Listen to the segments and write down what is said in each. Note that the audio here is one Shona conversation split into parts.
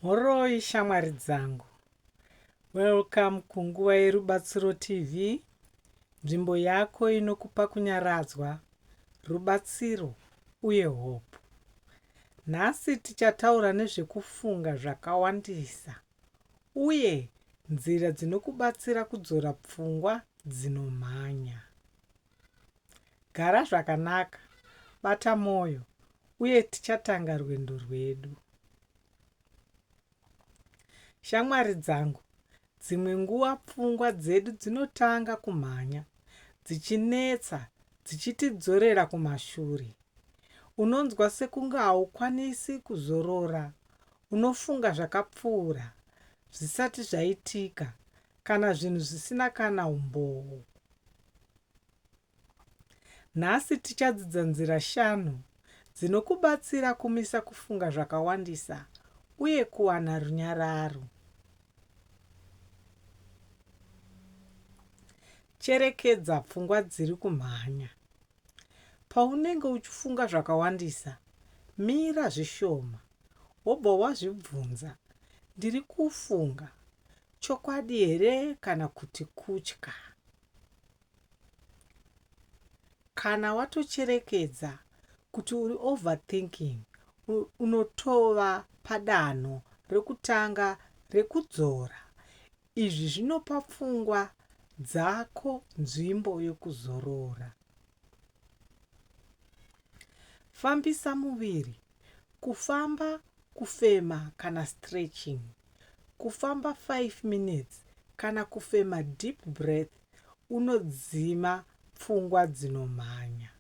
Mhoroi shamwari dzangu. Welcome kunguva yerubatsiro TV, nzvimbo yako inokupa kunyaradzwa, rubatsiro uye hope. Nhasi tichataura nezvekufunga zvakawandisa uye nzira dzinokubatsira kudzora pfungwa dzinomhanya. Gara zvakanaka, bata mwoyo, uye tichatanga rwendo rwedu. Shamwari dzangu, dzimwe nguva pfungwa dzedu dzinotanga kumhanya, dzichinetsa, dzichitidzorera kumashure. Unonzwa sekunge haukwanisi kuzorora, unofunga zvakapfuura, zvisati zvaitika, Kana zvinhu zvisina kana umboo. Nhasi tichadzidza nzira shanu dzinokubatsira kumisa kufunga zvakawandisa uye kuwana runyararo. Cherekedza pfungwa dziri kumhanya. Paunenge uchifunga zvakawandisa, mira zvishoma wobva wazvibvunza, Ndiri kufunga Chokwadi here kana kuti kutya? Kana watocherekedza kuti uri overthinking, unotova padanho rekutanga rekudzora. Izvi zvinopa pfungwa dzako nzvimbo yokuzorora. Fambisa muviri kufamba kufema kana stretching kufamba 5 minutes kana kufema deep breath unodzima pfungwa dzinomhanya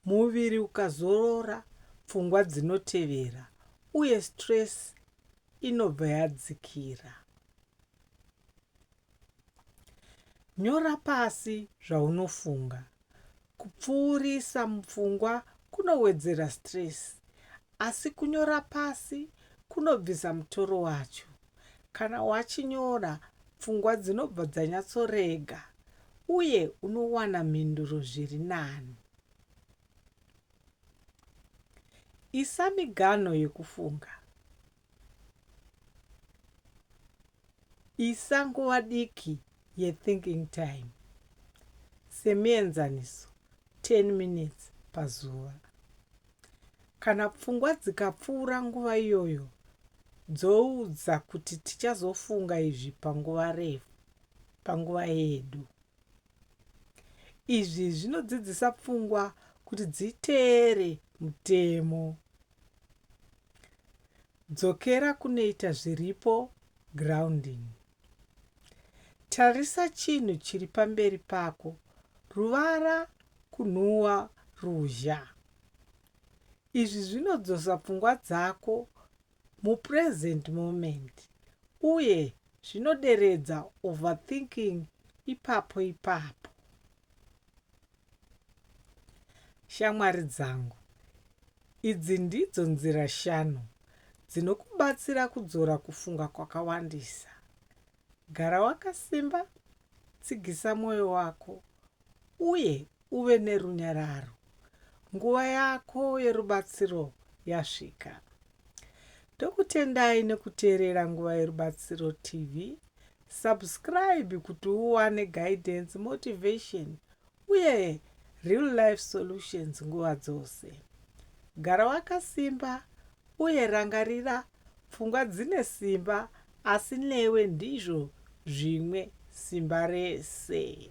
muviri ukazorora pfungwa dzinotevera uye stress inobva yadzikira nyora pasi zvaunofunga Kupfuurisa mupfungwa kunowedzera stress asi kunyora pasi kunobvisa mutoro wacho. Kana wachinyora, pfungwa dzinobva dzanyatsorega uye unowana mhinduro zviri nani. Isa miganho yekufunga. Isa nguva diki yethinking time, semuenzaniso 10 minutes pazuva. Kana pfungwa dzikapfuura nguva iyoyo, dzoudza kuti tichazofunga izvi panguva refu, panguva yedu. Izvi zvinodzidzisa pfungwa kuti dziteere mutemo. Dzokera kunoita zviripo, grounding. Tarisa chinhu chiri pamberi pako, ruvara, kunhuwa, ruzha. Izvi zvinodzosa pfungwa dzako mupresent moment uye zvinoderedza overthinking ipapo ipapo. Shamwari dzangu, Idzi ndidzo nzira shanu dzinokubatsira kudzora kufunga kwakawandisa, Gara wakasimba, tsigisa mwoyo wako, uye uve nerunyararo. Nguva yako yerubatsiro yasvika. Ndokutendai nekuteerera Nguva Yerubatsiro TV Subscribe kuti uwane guidance, motivation uye real life solutions nguva dzose. Gara wakasimba uye rangarira pfungwa dzine simba asi newe ndizvo zvimwe simba rese.